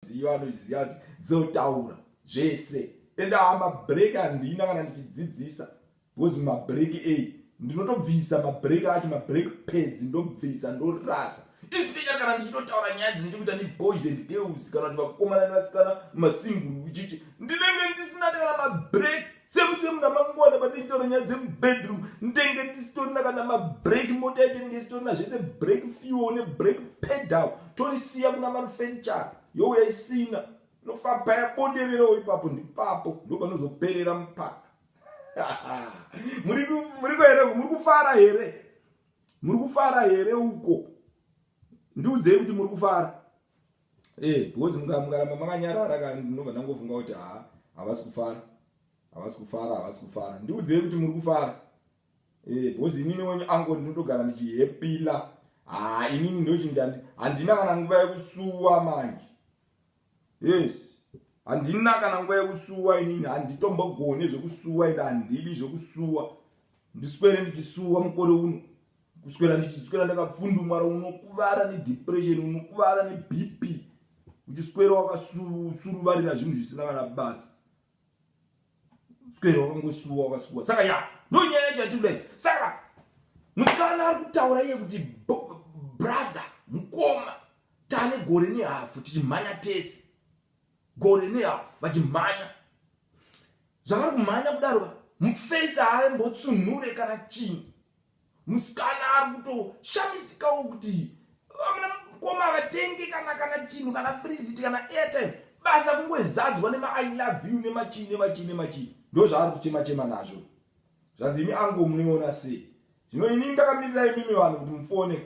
anoziva anoziva kuti dzotaura zvese ende haa mabreak handina kana ndichidzidzisa because mumabreak ei ndinotobvisa mabreak acho mabreak pads ndobvisa ndorasa especially kana ndichitotaura nyaya dzinoita kuita neboys and girls kana kuti vakomana nevasikana mumasinguru ichichi ndinenge ndisina kana mabreak same same namangwana pandichitaura nyaya dzemubedroom ndenge ndisitorina kana mabreak mota yacho inenge isitorina zvese break fuel nebreak pedal torisiya kuna manufacture youya isina inofamba yabondererawo ipapo ndipapo ndopanozoperera mupaka muri kuere muri kufara here muri kufara here uko ndiudzei kuti muri kufara eh because mukaramba makanyarara ka ndinobva ndangofunga kuti ha havasi kufara havasi kufara havasi kufara ndiudzei kuti muri kufara eh because inini wenyu ango ndinotogara ndichihepila ha inini ndochinge handina kana nguva yekusuwa manje yes handina kana nguva yekusuwa inini handitombogone zvekusuwa ini handidi zvekusuwa ndiswere ndichisuwa mukore uno kuswera ndichiswera ndakapfundumara unokuvara nedepression unokuvara nebp uchiswera wakasuruvarira zvinhu zvisina kana basa swera wakangosuwa wakasuwa saka ya nonyaya chati kudai saka musikana ari kutaura iye kuti brother mukoma tane gore nehafu tichimhanya tese gore nehafu vachimhanya zvavari kumhanya kudaro mufesi haaimbotsumhure kana chii Musikana ari kutoshamisikawo kuti vamwe mukoma vatenge kana kana chinhu kana frizit kana airtime basa kungozadzwa nema i love you nemachii nemachii nemachii ndo zvaari kuchema chema nazvo zvanzi imi ango munoona sei zvino ini ndakamirira imimi vanhu kuti mufone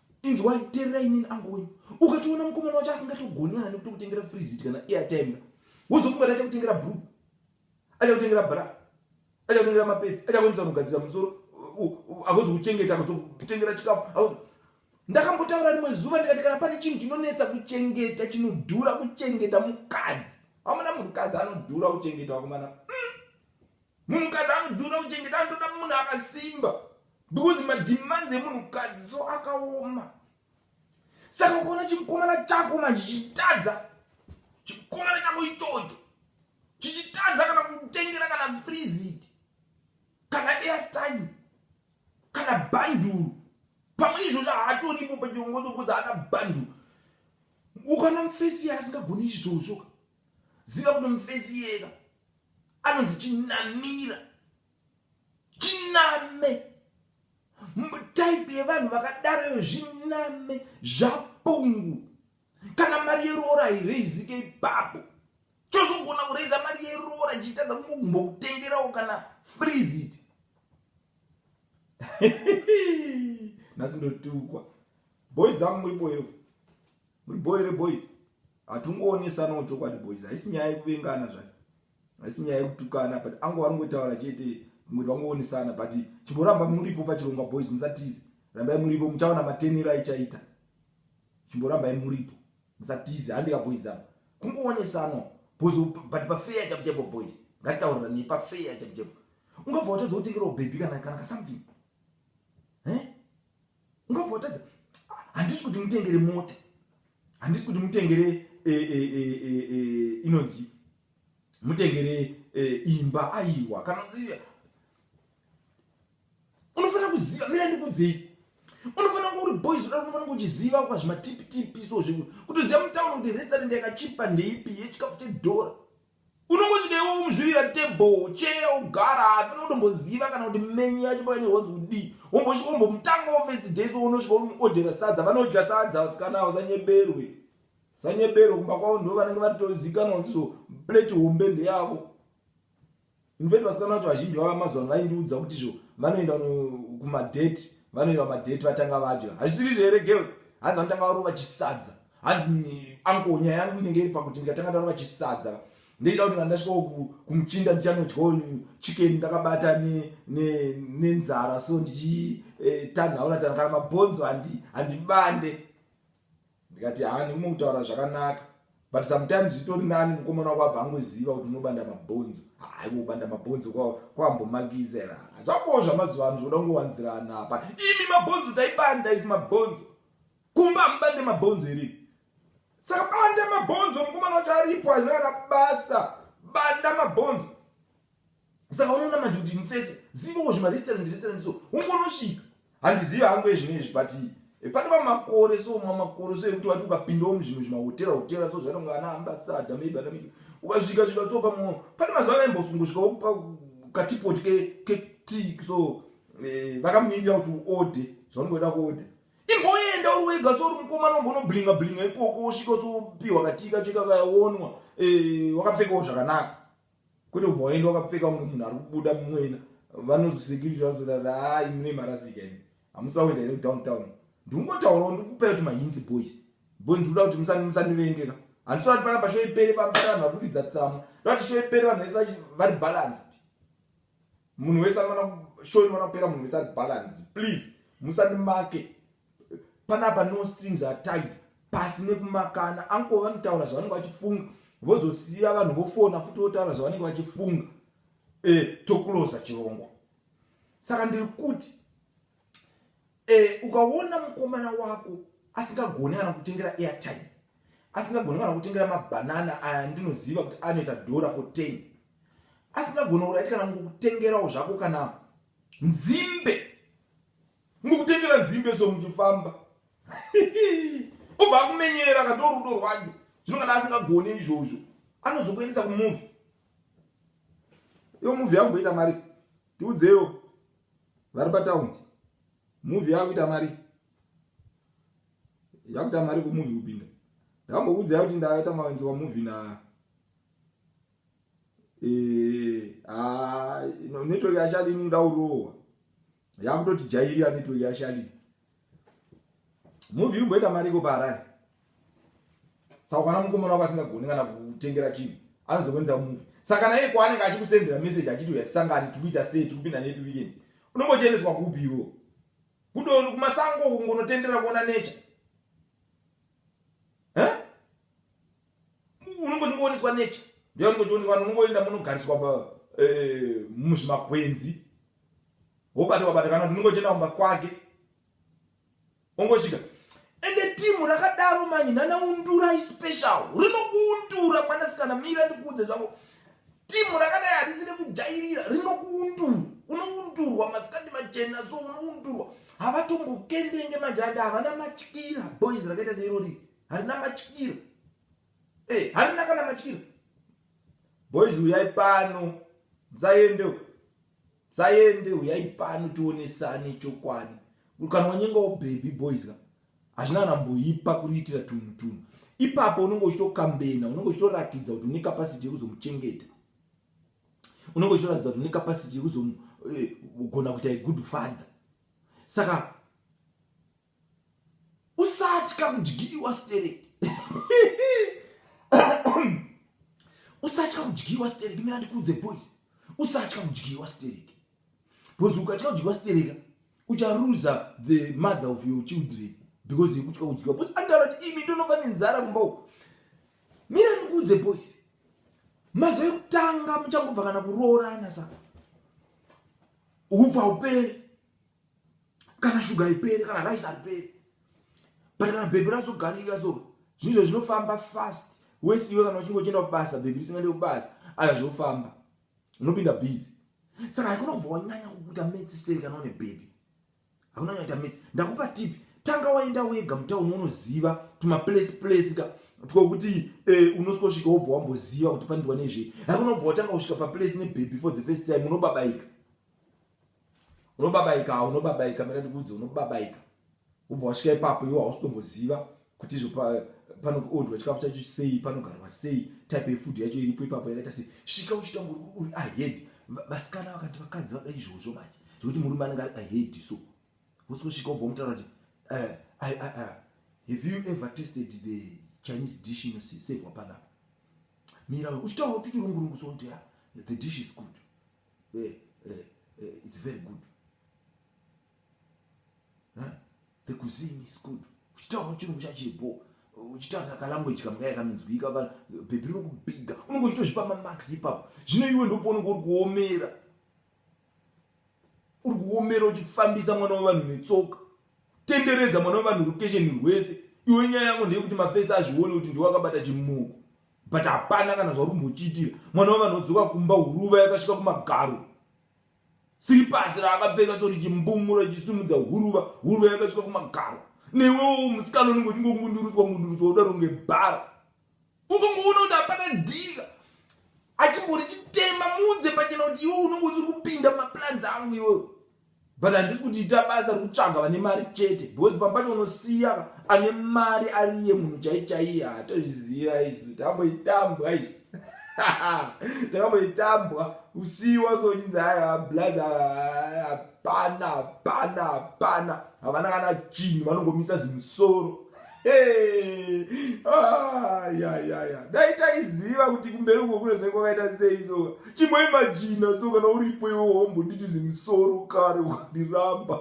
Inzwai, teererai inini angu wenyu. Ukatoona mukomana wacho asingatogoni kana nekutokutengera frizit kana airtime ka. Wozofunga kuti achakutengera bru. Achakutengera bra. Achakutengera mapedzi. Achakuendesa kunogadzira musoro. Agozokuchengeta, akazokutengera chikafu. Ndakambotaura rimwe zuva ndikati kana pane chinhu chinonetsa kuchengeta chinodhura kuchengeta mukadzi. Hamuna munhukadzi anodhura kuchengeta wakomana. Mm. Munhukadzi anodhura kuchengeta anotoda munhu akasimba because mademands emunhukadzi so akaoma. Saka ukaona chimukomana chako manje chichitadza chikomana chako ichocho chichitadza kana kutengera kana freezit kana airtime kana banduru pamwe izvozvo haatoripo pachiongozo bcause haana banduru ukaona mufesi yaasingagoni izvozvo ziva kuti mufesi iyeka anonzi chinamira chiname type yevanhu vakadaroyo zviname zvapungu kana mari yeroora haireizike ipapo chozogona kureiza mari yeroora chiitadza kungogumbo kutengerawo kana freezit nhasi ndotukwa boys dzangu muripo here Muri boy re boys. Hatungoonesanawo chokwadi boys. Haisi nyaya yekuvengana zvayo. Haisi nyaya yekutukana but angu varingotaura chete kuti vangoonesana but chimboramba muripo pachirongwa boys musatize. Rambai muripo muchaona matenero aichaita. Chimborambai muripo. Musatize handika boys apa. Kungoonesana boys but pa fair chapo chapo boys. Ngataurira ne pa fair chapo chapo. Ungabva watodza kutengera baby kana kana ka something. Eh? Ungabva watadza handisi kuti mutengere mota. Handisi kuti mutengere eh, eh, eh, inonzi mutengere imba aiwa kana unofanira kuziva mira ndikudzei unofanira kuva uri boys uda unofanira kuchiziva kwa zvimatipitipi so zvekuti kutoziva mutauni kuti restaurant yakachipa ndeipi yechikafu chedhora unongosvika iwe womuzvirira table cheya ogara haafana kutomboziva kana kuti menyu yacho pakanyira wanzi kudii wombosvika wombomutanga ofesi days wounosvika womuodhera sadza vanodya sadza vasikana avo sanyeberwe sanyeberwe kumba kwavo ndo vanenge vatozikanwa kuti so plate hombe ndeyavo In fact vasikana vacho vazhinji vava mazuva ano vaindiudza kuti izvo vanoenda kumadate vanoenda kumadate vatanga vadya hazvisiriri here girls hanzi vanotanga varova chisadza hanzi anko nyaya yangu inenge iri pakuti ndikatanga ndarova chisadza ndeida kuti kana ndasvika kumuchinda ndichanodyawo chicken ndakabata nenzara ne so ndichitanhaura eh, tana kana mabhonzo handibande Ndikati haa nekume kutaura zvakanaka but sometimes zvitori nani mukomana wako abva angoziva kuti unobanda mabhonzo haiwo ubanda mabhonzo kwaambomakisa here hazvakowo zvamazuva ano zvoda kungowanzirana apa imi mabhonzo taibanda isi mabhonzo kumba amubande mabhonzo here saka banda mabhonzo mukomana wacho aripo hazvina kana basa banda mabhonzo Saka unoona manje kuti mufese zivowo zvimarestaurant restaurant so ungonosvika handizivi hangu ezvino izvi but eh, pane mamakore so mamakore so ekuti wati ukapindawo muzvimwe zvimahotera hotera so zvatonga ana ambasada maybe ana midi ukasvika svika so pamwe pane mazuva avaimbosungusvikawo kupa katipoti ketii so eh, vakamirira kuti uode zvaunongoda kuode imboenda uri wega so uri mukomana wambonoblinga blinga ikoko usvika so upiwa katika chekakayaonwa eh, wakapfekawo zvakanaka Kwete kubva waenda wakapfeka kunge munhu ari kubuda mumwena vanozi security vazoda kuti haa imi mune marasika imi hamusida kuenda here kudowntown ndikungotaurawo ndiri kupai kuti mahinzi boys boys ndiri kuda kuti musandivengeka handisada kuti panapa show ipere pambari vanhu vari kukidza tsamwa ndoda kuti show ipere vanhu vese vari balanced munhu wese anoona show inoona kupera munhu wese ari balance please musandimake panapa no strings are tied pasi nekumakana anko vanotaura zvavanenge vachifunga vozosiya vanhu vofona futi votaura zvavanenge vachifunga e, eh, tokuloza chirongwa saka ndiri kuti Eh, ukaona mukomana wako asingagoni kana kutengera airtime asingagoni kana kutengera mabhanana aya ndinoziva kuti anoita dhora for ten asingagoni uraiti kana ngokutengerawo zvako kana nzimbe ngokutengera nzimbe so muchifamba obva akumenyera ka ndorudo rwacho zvino kana asingagoni izvozvo anozokuendesa kumuvi iyo muvi yangoita mari tiudzeiwo vari pataundi muvi yakuita mari yakuita mari kumuvi kupinda ndambokuudzai kuti ndaita mawenzi wamuvi na eh, ah, network yashalini ndaurowa yakutoti jairira network yashalini Movie iri kumboita mari iko paharare saka kana mukomana wako asingagoni kana kutengera chinhu anozokonesa muvi saka naye kwaanenge achikusendera meseji achiti uya tisangani tiri kuita sei tiri kupinda nepi wikendi unombochiendeswa kupi iwo kudondo kumasango kungonotendera kuona nature unongochingooneswa nature ndoyanongochionekwa unongoenda munogariswa eh, muzvimakwenzi wobata wabata kana kuti unongo chenda kumba kwake ongosvika ende timu rakadaro manyi nana undura ispecial rinokuundura mwanasikana mira ndikuudze zvavo timu rakadai harisi rekujairira rinokuundura unoundurwa masikati machena so unoundurwa havatombokendenge manje ande havana matyira boys rakaita seirori harina matyiro hey, eh, harina kana matyiro boys uyai pano musaende musaende uyai pano tionesane chokwadi kana wanyengawo baby boys ka hazvina anamboipa kuriitira tunhu tunhu ipapo unenge uchitokambena unenge uchitorakidza kuti une kapasiti yekuzomuchengeta unenge uchitoratidza kuti une kapasiti yekuzogona eh, kuita good father saka usatya kudyiwa stereki usatya kudyiwa stereki mira ndikuudze boys usatya kudyiwa stereki because ukatya kudyiwa stereka ucharuza the mother of your children because yekutya kudyiwa because andaura kuti imi ndonova nenzara kumba uku mira ndikuudze boys mazuva ekutanga muchangobva kana kuroorana sa upa upere kana shuga haiperi kana rice hariperi but kana bhebhi razogarika so zvinhu zvinofamba fast wese iwe kana uchinge uchienda kubasa bhebhi risingaende kubasa aya zvofamba unopinda busy saka haikona kubva wanyanya kukuita metsi seri kana une bhebhi hakuna kunyaita metsi ndakupa tipi tanga waenda wega mutauni unoziva tumaplace place ka twokuti eh, unosvika wobva wamboziva kuti pandiwa nezvei hakunobva watanga kusvika paplace nebhebhi for the first time unobabaika unobabaika ha unobabaika mira ndikuudze unobabaika ubva wasvika ipapo iwo hausitomboziva kuti izvo panoodwa chikafu chacho sei panogarwa sei type yefood yacho iripo ipapo yakaita sei svika uchitanga uri ahead vasikana vakati vakadzi vada izvozvo manje zvekuti murume anenge ari ahead so wosikosvika ubva mutaura kuti eh, have you ever tested the chinese dish inosevwa panapa mira uchitaura kuti chirungurungu sokuti ya the dish is good eh, eh, eh, it's very good huh? the cuisine is good uchitaura chirungu chachibho uchitaura kalanguage kamwe kaya kanonzwika kana bhebhi rinokubhiga unenge uchitozvipa mamax ipapo zvino iwe ndopounenge uri kuomera uri kuomera uchifambisa mwana wevanhu netsoka tenderedza mwana wevanhu rukesheni rwese iwe nyaya yangu ndeyekuti mafesi azvione kuti ndiwe akabata chimuko but hapana kana zvauri kumbochiitira mwana wevanhu odzoka kumba huruva yakasvika kumagaro siri pasi raakapfeka so richimbumura richisumudza huruva huruva yakasvika kumagaro newewo musikana unenge uchingongundurutswa ngundurutswa udaro ngebhara ukongoona kuti hapana dhira achimbori chitema muudze pachena kuti iwe unenge usiri kupinda maplanzi angu iweyo But handisi kuti ita basa rekutsvaga vane mari chete because pamba pacho unosiya ane mari ariye munhu chai chaiye hatozviziva isu tamboitambwa isu takamboitambwa kusiyiwa sochinzi aya blaz hapana hapana hapana havana kana chinhu vanongomisa zimusoro Hey, ah, ya, ya, ya. Dai taiziva kuti kumberi uko kunozai kwakaita sei so chimoimajina so kana uripo iwe wombo nditi zimusoro kare ukandiramba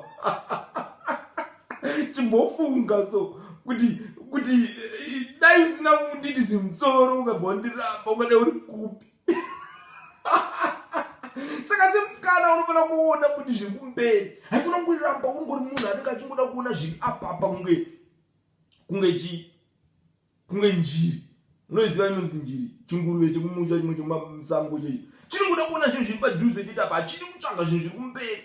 chimbofunga so kuti kuti eh, dai usina kunditi zimusoro ukabva wandiramba ukadai uri kupi saka semusikana unofanira kuona kuti zviri kumberi haikona kungoramba ungori munhu anenge achingoda kuona zviri apapa kunge kunge chii kunge njiri unoziva inonzi njiri chinguruve chekumusha chimwe chemasango chei chinongoda kuona zvinhu zviri padhuze chete apa hachidi kutsvaga zvinhu zviri kumberi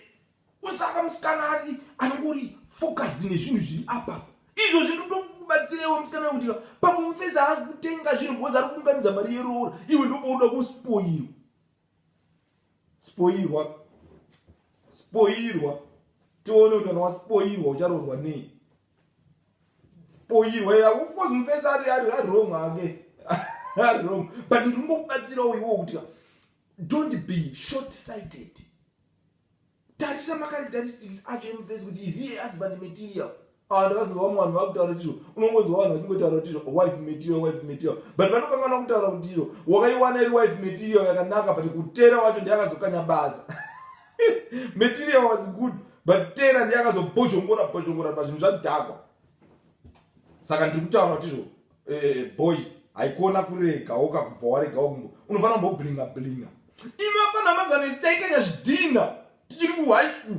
Usava musikana ari anongori focused nezvinhu zviri apapa izvo zvinotokubatsirewo musikana kuti pamwe mufeza haazi kutenga zvinhu because ari kuunganidza mari yeroora iwe ndopouda kuspoirwa spoirwa spoirwa tione kuti kana waspoirwa ucharoorwa nei spoirwa ya of course mufesa ari ari ari wrong hake ari wrong but ndiri ngokubatsirawo iwo kuti don't be short sighted Tarisa macharacteristics acho emuface kuti is he a husband material. Ah, ndakazinzwa vamwe vanhu vakutaura kuti izvo unongonzwa vanhu vachingotaura kuti izvo wife material wife material but vanokanganwa kutaura kuti izvo wakaiwana iri wife material yakanaka but kutera wacho ndiye akazokanya basa material was good but tera ndiye akazobhozhongora bhozhongora pazvinhu zvadhakwa saka ndiri kutaura kuti izvo eh, boys haikona kuregawo kakubva waregawo kumbo unofanira kumboblinga blinga imi vafana mazano isi taikanya zvidhinha tichiri kuhigh school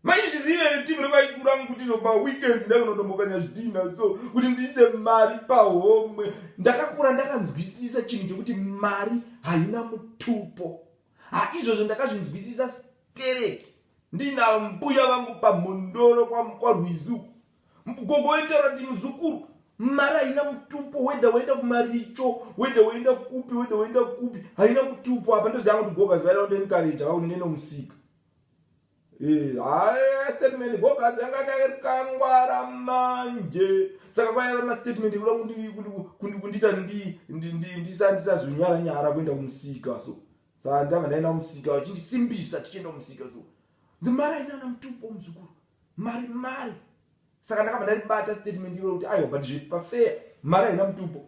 maizvizive timu rekuhigh school rangu kuti zoba weekends ndakunotombokanya zvidhinha so kuti ndiise mari pahomwe ndakakura ndakanzwisisa chinhu chekuti mari haina mutupo haizvozvo ndakazvinzwisisa stereki ndina mbuya vangu pamhondoro kwarwizuku Gogo vaitaura kuti muzukuru mari haina mutupo whether woenda kumaricho whether woenda kupi whether woenda kupi haina mutupo apa ndoziva kuti gogas vaida kundenikareja vaunine nomusika eh, haya statement gogas yanga kakangwara manje saka kwaiva mastatement ekuda kundiita ndisazonyara nyara kuenda kumusika so saa ndava ndaenda kumusika vachindisimbisa tichienda kumusika so Dzimarai nana mutupo muzukuru. Mari mari. Saka ndakabva ndaribata statement iro kuti aiwa but zvepa fair mari haina mutupo.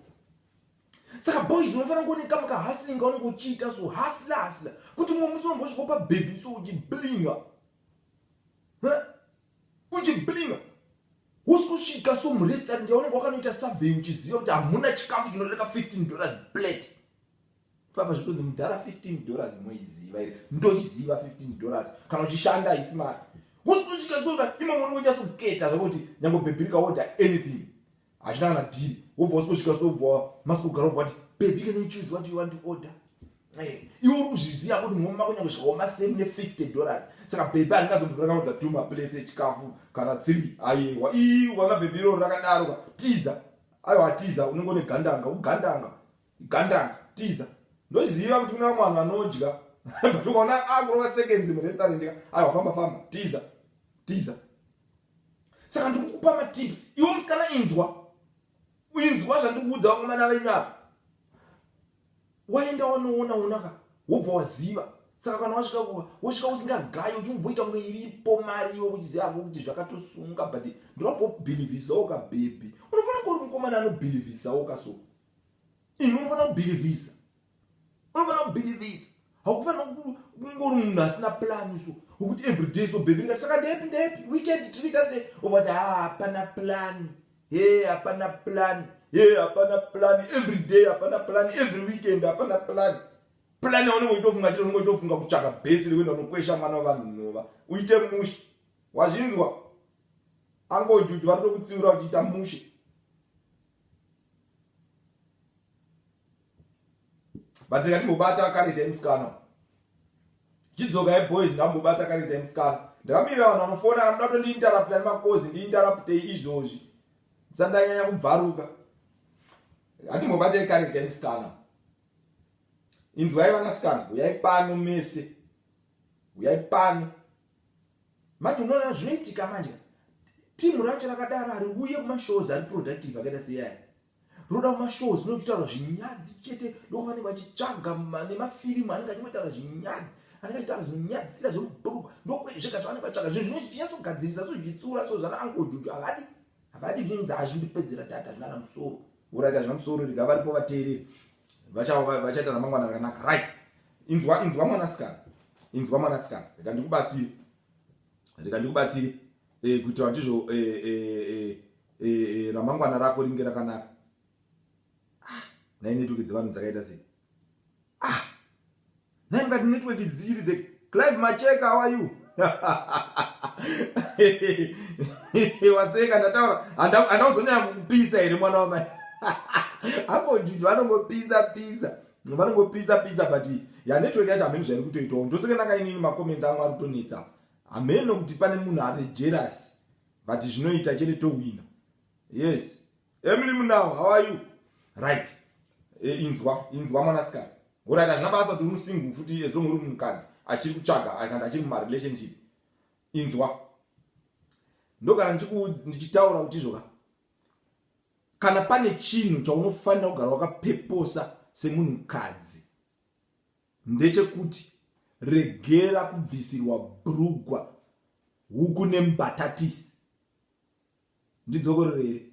Saka boys unofanira kuoneka maka hustling kaunenge uchiita so hustler hustler kuti mumwe musi unombosvika pa baby so uchiblinga. Uchiblinga. Usikusvika so mu restaurant yaunenge wakanoita survey uchiziva kuti hamuna chikafu chinoreka 15 dollars plate. Papa zvitonzi mudhara 15 dollars moiziva iri ndochiziva 15 dollars kana uchishanda haisi mari kuti kusvika zuva imo mwana wonyasa kuketa zvakuti nyange bhebhi rikaoda anything hachina kana dhiri wobva usikosvika sobva masikugara obva wati bhebhi can you choose what you want to order eh, iwe uri kuzviziva kuti mhomi mako nyange zvikaoma same ne 50 dollars saka bhebhi aringazombotora kaoda two maplates echikafu kana three ayewa ii ukanga bhebhi iroro rakadaroka tiza aiwa tiza unenge une gandanga ugandanga Gandanga tiza ndoziva kuti kune vamwe vanhu vanodya but ukaona akurova seconds murestaurant ka aiwa famba famba tiza tiza saka ndiri kukupa matips iwo musikana inzwa inzwa zvandikuudza vakomana venyu apa waenda wanoona onaka wobva waziva saka kana wasvika kuva wosvika usingagayi uchimboita kunge iripo mari iwe kuchiziva hako kuti zvakatosunga but ndinobhobhilivhisawo kabhebhi unofanira kuuri mukomana anobhilivhisawo kaso imi unofanira kubhilivhisa unofanira kubhilivhisa hakufanira kungori munhu asina plani so ukuti everyday so bhebhi rikati saka ndepi ndepi weekend tiriita se ovati ha hapana plani he hapana plani he hapana plani everyday hapana plani every weekend hapana plani plani yaunenge uitofunga chete unenge uitofunga kutsvaka bhesi rekuenda unokwesha mwana wevanhu nhova uite mushe wazvinzwa angojuju vanotokutsiura uchiita mushe but ndikatimbobata karita musikana chidzoka yeboys ndambobata karita musikana ndakamirira vanhu vanofona kana muda kutondiintarapta nemakozi ndiintaraptei izvozvi sandanyanya kubvaruka hatimbobatei karita musikana inzwai vanasikana huyai pano mese huyai pano Manje unoona zvinoitika manje team racho rakadaro hariuye kuma shows ari productive akaita seiyaya rinoda kuma shows mune kuchitaura zvinyadzi chete ndokuva vanenge vachitsvaga nemafirimu anenge achingotaura zvinyadzi anenge achitaura zvinyadzi sira zvemubhuruku ndokuezvega zvavanenge vatsvaga zvinhu zvino zvichinyasogadzirisa so zvichitsura so zvana angojuju havadi havadi zvinonzi hazvindipedzera data zvinana musoro vuraita zvina musoro rega varipo vateereri vachaita ramangwana rakanaka right inzwa inzwa mwanasikana inzwa mwanasikana reka ndikubatsire reka ndikubatsire eh, kuitira kuti izvo eh, eh, ramangwana rako ringe rakanaka ah, nainetoke dzevanhu dzakaita sei ah, Nhai mukati network idzi dzichiri dze Clive Macheka how are you? Waseka ndataura andauzonyanya kukupisa here mwana wamai Uncle Juju vanongopisa pisa vanongopisa pisa but ya network yacho hameno zvairi kutoitawo ndoseka ndanga inini macomments angu ari kutonetsa hameno kuti pane munhu ari jealous but zvinoita chete tohwina yes emily mundawa how are you right e, inzwa inzwa mwanasikana orit hazvina basa kuti unusingu futi as long uri mukadzi achiri kutsvaga akandi achiri mumarelationship inzwa ndogara ndichitaura kuti izvoka kana pane chinhu chaunofanira kugara wakapeposa semunhukadzi ndechekuti regera kubvisirwa brugwa huku nembatatisi Ndidzokororere.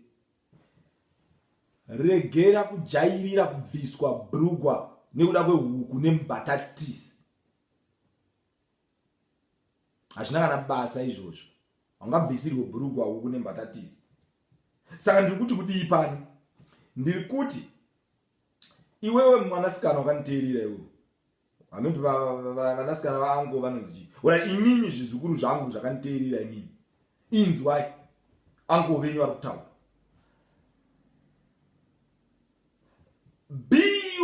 Regera kujairira kubviswa brugwa nekuda kwehuku nembatatisi. Hazvina kana basa izvozvo. Haungabvisirwe brugwa huku nembatatisi. Saka ndiri kuti kudii pano? Ndiri kuti iwewe mwanasikana wakanditeerera iwewe hanoti vanasikana vaango vanonzi chii ora imimi zvizukuru zvangu zvakanditeerera imimi inzwai ango venyu vari kutaura be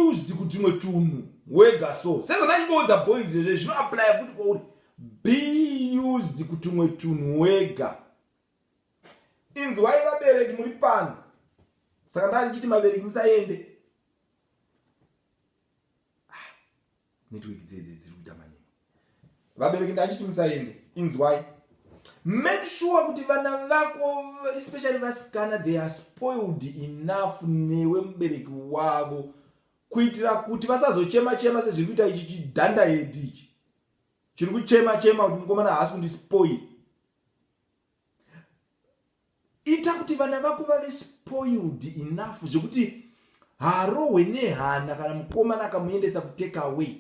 used kutimwe tunhu wega so sezvo ndandingoudza boys zvezve zvinoaplya futi kwauri be used kutumwe tunhu wega inzwai vabereki muri pano saka ndaa ndichiti mabereki musaende ah, network dzedze dziri kuita manyema vabereki ndachiti musaende inzwai make sure kuti vana vako especially vasikana they are spoiled enough newe mubereki wavo kuitira kuti vasazochema chema sezviri kuita ichi chidhanda hedi ichi chiri kuchema chema kuti mukomana haasi kundispoil ita kuti vana vako vave spoiled enough zvekuti harohwe nehana kana mukomana akamuendesa kutake away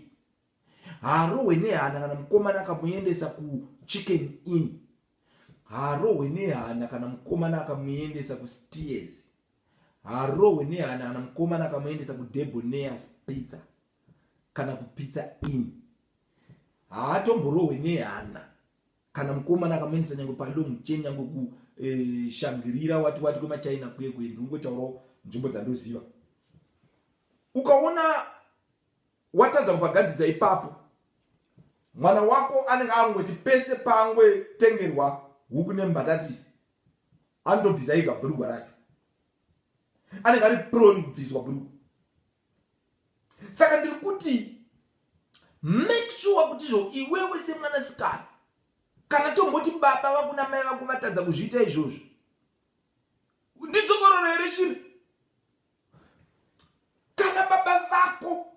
harohwe nehana kana mukomana akamuendesa kuchicken in harohwe nehana kana mukomana akamuendesa kusteers harohwe nehana kana mukomana akamuendesa kudeboneas pizza kana kupizza in haatomborohwe nehana kana mukomana akamuendesa nyange palong chain nyange kushangirira eh, wati wati kwemachina kuye kuye ndingotaurawo nzvimbo dzandoziva ukaona watadza kubagadzidza ipapo mwana wako anenge angoti pese pangwe tengerwa huku nembatatisi anotobvisa iga bhurugwa racho anenge ari prone kubviswa bhurugwa saka ndiri kuti make sure kuti izvo iwewe semwanasikana kana tomboti baba vakuna mai vako vatadza kuzviita izvozvo ndidzokororo here shiri kana baba vako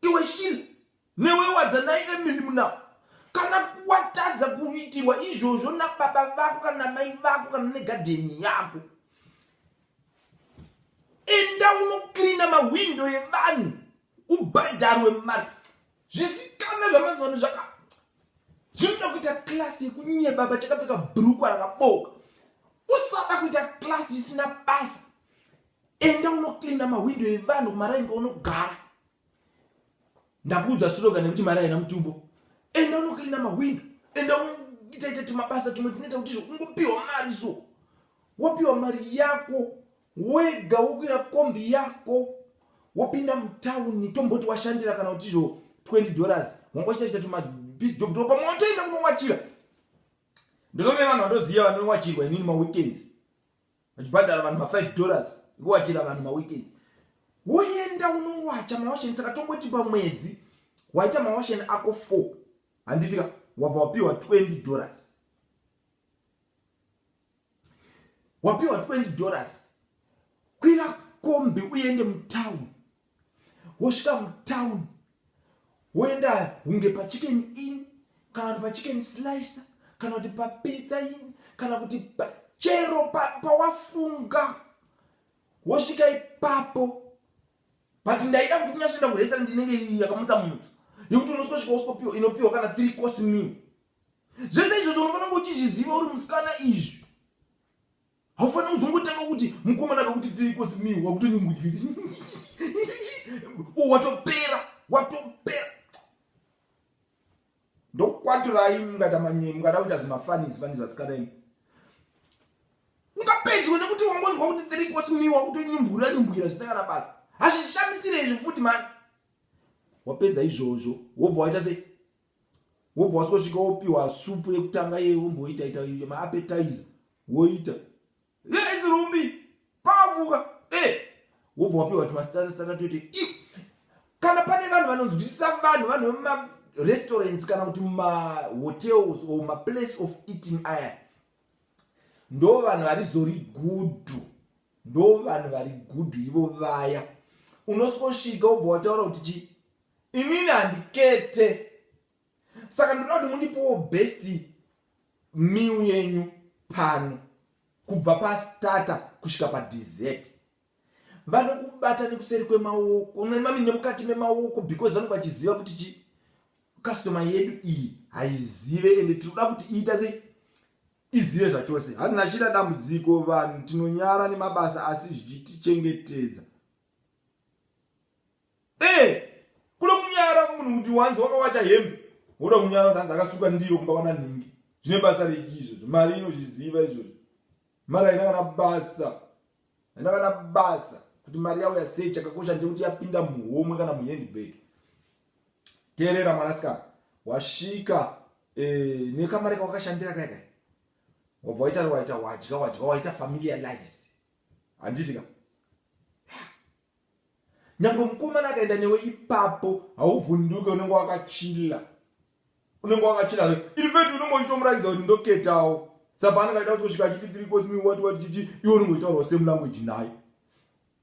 iwe shiri Newe wadza nai Emily Mnau kana watadza kuitirwa izvozvo nababa vako kana namai vako kana negadheni yako enda unoklina mahwindo evanhu ubhadharwe mari zvisikana zvamazivano zvaka zvinoda kuita klasi yekunyeba vachakapfeka brukwa rakaboka usada kuita klasi isina basa enda unoklina mahwindo evanhu kumaraini kwaunogara ndakuudza slogan yekuti mari haina mutubo enda unoklina mahwindo enda itaita timabasa tumwe tunoita kuti izvo ungopiwa mari so wopiwa mari yako wega wokwira kombi yako wopinda mutauni tomboti washandira kana kuti izvo 20 dollars wanga uchita chita tumabizi job topa motoenda kunowachira ndinove vanhu vandoziva vanowachirwa inini maweekends vachibhadhara vanhu ma 5 dollars ekuwachira vanhu maweekend woenda unowacha mawasheni saka tongoti pamwedzi waita mawasheni ako 4 handitika wabva wapiwa 20 dollars wapiwa 20 dollars kwira kombi uende mutown wosvika mutown woenda hunge pachicken in kana kuti pachicken slicer kana kuti papizza in kana kuti chero pawafunga pa wosvika ipapo but ndaida kuti kunyasoenda kurestaurant inenge yakamutsa mutsa yekuti unososvika usipopiwa inopiwa kana three course meal zvese izvozvo unofanira kuchizviziva uri musikana izvi Haufaniri kuzongotanga kuti mukomana akakuti tiri kosi mi wakutonyungudya. Oh, watopera, watopera. Ndokwaturai mungada manye, mungada kuita zvimafanisi vani zvasikana imi. Ungapedzwe nekuti wangonzwa kuti tiri kosi mi wakutonyumbura nyumbwira zvisina kana basa. Hazvishamisire izvi futi mani. Wapedza izvozvo, wobva waita sei? wobva wasvika wopiwa supu yekutanga iye womboita ita maapetizer woita yes rumbi pavuka e eh! wobva wapiwa timasitana toite kana pane vanhu vanonzwisisa vanhu vanhu vemumarestaurants kana kuti mumahotels or maplace of eating aya ndo vanhu varizori gudhu ndo vanhu vari gudhu ivo vaya unosvika usvika wobva wataura kuti chii Inini handikete saka ndoda kuti mundipowo best meal yenyu pano kubva pastarter kusvika padessert. Vanokubata nekuseri kwemaoko mami nemukati memaoko because vanenge vachiziva kuti chi customer yedu iyi haizive ende tinoda kuti iita sei izive zvachose. Hanachina dambudziko vanhu tinonyara nemabasa asi zvichitichengetedza Eh, kuda kunyara kumunhu kuti wanzi wakawacha hembe woda kunyara tanzi akasuka ndiro kumba kwana nhingi zvine basa reki izvozvo mari inozviziva izvozvo mari haina kana basa haina kana basa kuti mari yavo yasei chakakosha ndekuti yapinda muhomwe kana muhandbag teerera mwanasikana wasvika eh, nekamari kawakashandira kaikai wabva waita waita wadya wadya waita familia lives handiti ka nyangwe mukomana akaenda newe ipapo hauvhunduke unenge wakachila unenge wakachila infact unenge uchitomuratidza kuti ndoketawo sapaanenge aita kusvika achiti three cosmi wati wati chichi iwe unenge uchitaurawo same language naye